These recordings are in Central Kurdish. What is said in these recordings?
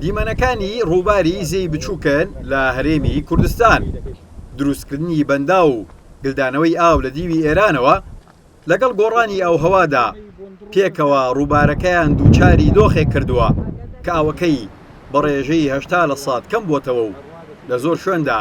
دیمەنەکانی ڕووباری زێی بچووکن لە هەرێمی کوردستان دروستکردنی بەندا و گلدانەوەی ئاو لە دیوی ئێرانەوە لەگەڵ گۆڕانی ئەو هەوادا پێکەوە ڕووبارەکەیان دووچاری دۆخێک کردووە کە ئاوەکەی بە ڕێژەی هەشتا لە سات کەم بۆتەوە و لە زۆر شوێندا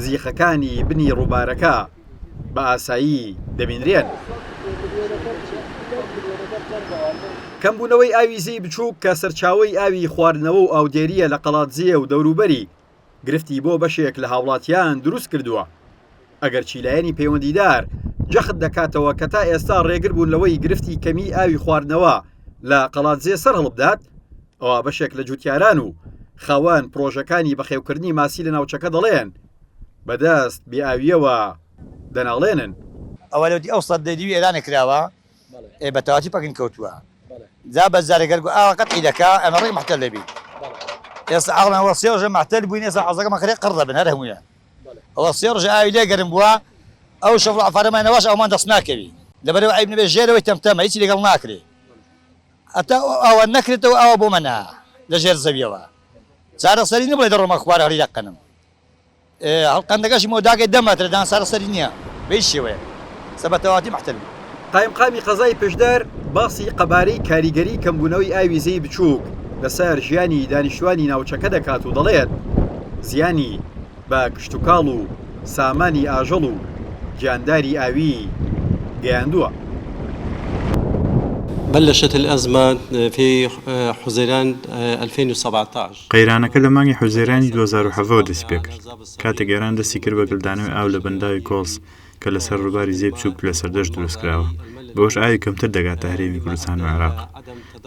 زیخەکانی بنی ڕووبارەکە بە ئاسایی دەبینرێن. کەمبوونەوەی ئاوی زێی بچووک کە سەرچاوەی ئاوی خواردنەوە و ئاودێرییە لە قەڵادزێ و دەوروبەری، گرفتی بۆ بەشێک لە هاوڵاتیان دروست کردووە، ئەگەرچی لایەنی پەیوەندیدار جەخت دەکاتەوە کە تا ئێستا ڕێگر بوون لەوەی گرفتی کەمیی ئاوی خواردنەوە لە قەڵادزێ سەرهەڵبدات، ئەوا بەشێک لە جووتیاران و خاوەن پڕۆژەکانی بەخێوکردنی ماسی لە ناوچەکە دەڵێن، بە دەست بێ ئاوییەوە دەناڵێنن. ئەوە لەوەتی ئەو سەد دەی دیوی ئێرانە کراوە ئێ بە تەواتی پەکن کەوتووە جا بەس جارێ گەر گو ئاوە قەتعی دەکا ئەمە ڕێک مەحتەل دەبی ئێستا ئاڵمە ئەوە سێ ڕۆژە مەحتەل بووین ئێستا عەزەکە مەخرێ قڕ دەبن هەر هەموویە ئەوە سێ ڕۆژە ئاوی لێ گەرم بووە ئەو شەفڵ عەفارەمان نەواش ئەومان دەست ناکەوی لەبەرەوە عیب نەبێ ژێرەوەی تەمتەمە هیچی لەگەڵ ناکرێ ئەتا ئەوە نەکرێتەوە ئەوە بۆ مەنا لە ژێر زەویەوە چارەسەری نەبڵێ دەڕۆمە خوار هەڵی دەقەنم هەڵقەندەکەشی مەوداکەی دە مەترە دان سارە سەری نیە بە هیچ شێوەیەک سە بە تەواتی محتەل بوو. قایمقامی قەزای پشدەر باسی قەبارەی کاریگەری کەمبوونەوەی ئاوی زێی بچووک لەسەر ژیانی دانیشتوانی ناوچەکە دەکات و دەڵێت، زیانی بە کشتوکاڵ و سامانی ئاژەڵ و گیانداری ئاوی گەیاندووە. بلشت الازمه في حزیران ئەلفەین و سەبعتاش. قەیرانەکە لە مانگی حوزەیرانی دوو هەزار و حەڤە وە دەستی پێکرد، کاتێک ئێران دەستی کرد بە گلدانەوەی ئاو لە بەنداوی کۆڵس کە لە سەر ڕووباری زێی بچووک و لە سەردەشت دروست کراوە، بەوەش ئاوی کەمتر دەگاتە هەرێمی کوردستان و عێراق.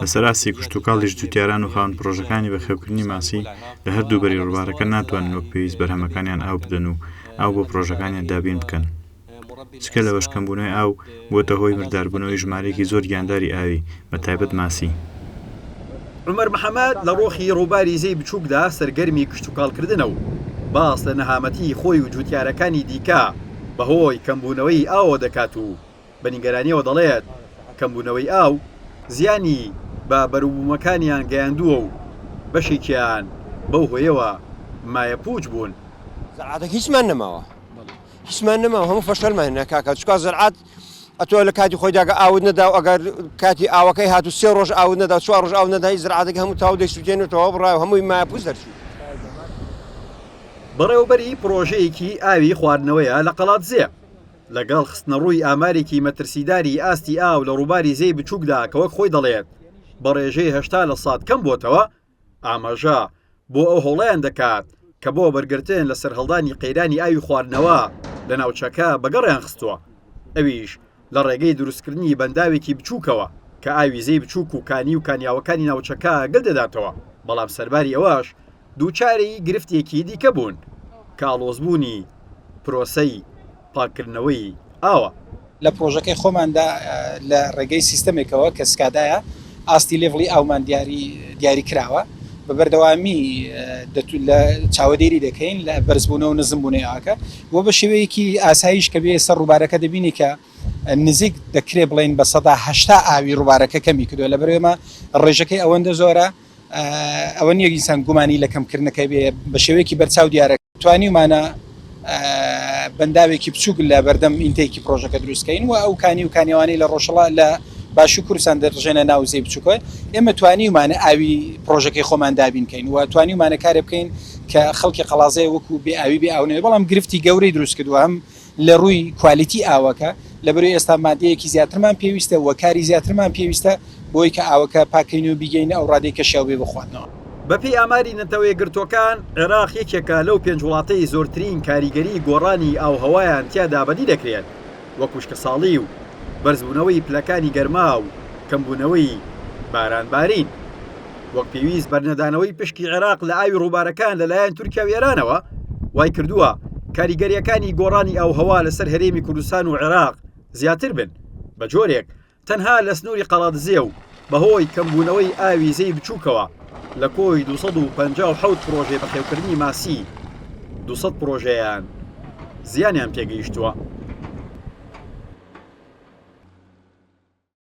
لە سەر ئاستی کشتوکاڵیش جووتیاران و خاوەن پڕۆژەکانی بەخێوکردنی ماسی لە هەردوو بەری ڕووبارەکە ناتوانن وەک پێویست بەرهەمەکانیان ئاو بدەن و ئاو بۆ پڕۆژەکانیان دابین بکەن. جگە لەوەش کەمبوونەوەی ئاو بووەتە هۆی مرداربوونەوەی ژمارەیەکی زۆر گیانداری ئاوی، بە تایبەت ماسی. عومەر محەمەد لە ڕۆخی ڕووباری زێی بچووکدا سەرگەرمی کشتوکاڵکردنە و باس لە نەهامەتیی خۆی و جووتیارەکانی دیکە بەهۆی کەمبوونەوەی ئاوەوە دەکات و بە نیگەرانییەوە دەڵێت، کەمبوونەوەی ئاو زیانی بە بەروبوومەکانیان گەیاندووە و بەشێکیان بەو هۆیەوە مایەپووچ بوون. هیچمان نەماو هەموو فەشەلمان هێنا کاکە چکا زەرعات ئەتۆ لە کاتی خۆی داگە ئاود نەدا و ئەگەر کاتی ئاوەکەی هات و سێ ڕۆژ ئاود نەدا چوار ڕژ ئاو نەدای زرعاتەکە هەموو تاو دەیسووتێنێتەوە بڕای هەمووی ماپووس دەرچوو. بەڕێوەبەری پڕۆژەیەکی ئاوی خواردنەوەیە لە قەڵادزێ، لەگەڵ خستنەڕووی ئامارێکی مەترسیداری ئاستی ئاو لە ڕووباری زێی بچووکدا کە وەک خۆی دەڵێت بە ڕێژەی هەشتا لە سەد کەمبووەتەوە، ئاماژە بۆ ئەو هەوڵەیان دەکات کە بۆ وەبەرگرتن لە سەرهەڵدانی قەیرانی ئاوی خواردنەوە لە ناوچەکە بەگەڕیان خستووە، ئەویش لە ڕێگەی دروستکردنی بەنداوێکی بچووکەوە کە ئاوی زێی بچووک و کانی و کانیاوەکانی ناوچەکە گل دەداتەوە، بەڵام سەرباری ئەوەش دووچاری گرفتێکی دیکە بوون کە ئاڵۆزبوونی پرۆسەی. پاککردنەوەی ئاوە. لە پرۆژەکەی خۆماندا لە ڕێگەی سیستەمێکەوە کە سکادایە ئاستی لێڤڵی ئاومان دیاری کراوە بە بەردەوامی چاوەدێری دەکەین لە بەرزبوونەوە و نزمبوونەوەی ئاوەکە و بە شێوەیەکی ئاساییش کە بێیە سەر ڕووبارەکە دەبینی کە نزیک دەکرێ بڵێین بە سەدا هەشتا ئاوی ڕووبارەکە کەمی کردووە لەبەر ئێمە ڕێژەکەی ئەوەندە زۆرە ئەوە نیە ئینسان گومانی لە کەمکردنەکەی بێ بە شێوەیەکی بەرچاو دیارە توانیمانە بەنداوێکی بچووک لە بەردەم ئینتێکی پرۆژەکە دروستکەین و ئەو کانی و کانیوانەی لە ڕۆژەڵا لە باشو کوردستان دەڕژێنە ناوزەی بچووکە ئێمە توانیمانە ئاوی پرۆژەکەی خۆمان دابینکەین و توانیمانە کارێ بکەین کە خەڵکی قەڵازێ وەکو بێ ئاوی بێ ئاونێ بەڵام گرفتی گەورەی دروست کردووە هەم لە ڕووی کوالیتی ئاوەکە، لەبەروی ئێستا مادەیەکی زیاترمان پێویستە و کاری زیاترمان پێویستە بۆی کە ئاوەکە پاک کەین و بیگەینە ئەو ڕادەی کە شیاو بێ بۆ خواردنەوە. بە پێی ئاماری نەتەوەیەکگرتووەکان، عێراق یەکێکە لەو پێنج وڵاتەی زۆرترین کاریگەری گۆڕانی ئاووهەوایان تیادا بەدی دەکرێت، وەک وشکەساڵی و بەرزبوونەوەی پلەکانی گەرما و کەمبوونەوەی بارانبارین. وەک پێویست بەرنەدانەوەی پشکی عێراق لە ئاوی ڕووبارەکان لەلایەن تورکیا و ئێرانەوە وای کردووە کاریگەرییەکانی گۆڕانی ئاووهەوا لەسەر هەرێمی کوردستان و عێراق زیاتر بن بە جۆرێک تەنها لە سنووری قەڵادزێ و بەهۆی کەمبوونەوەی ئاوی زێی بچووکەوە لە کۆی 257 پرۆژەی بەخێوکردنی ماسی 200 پرۆژەیان زیانیان پێگەیشتووە.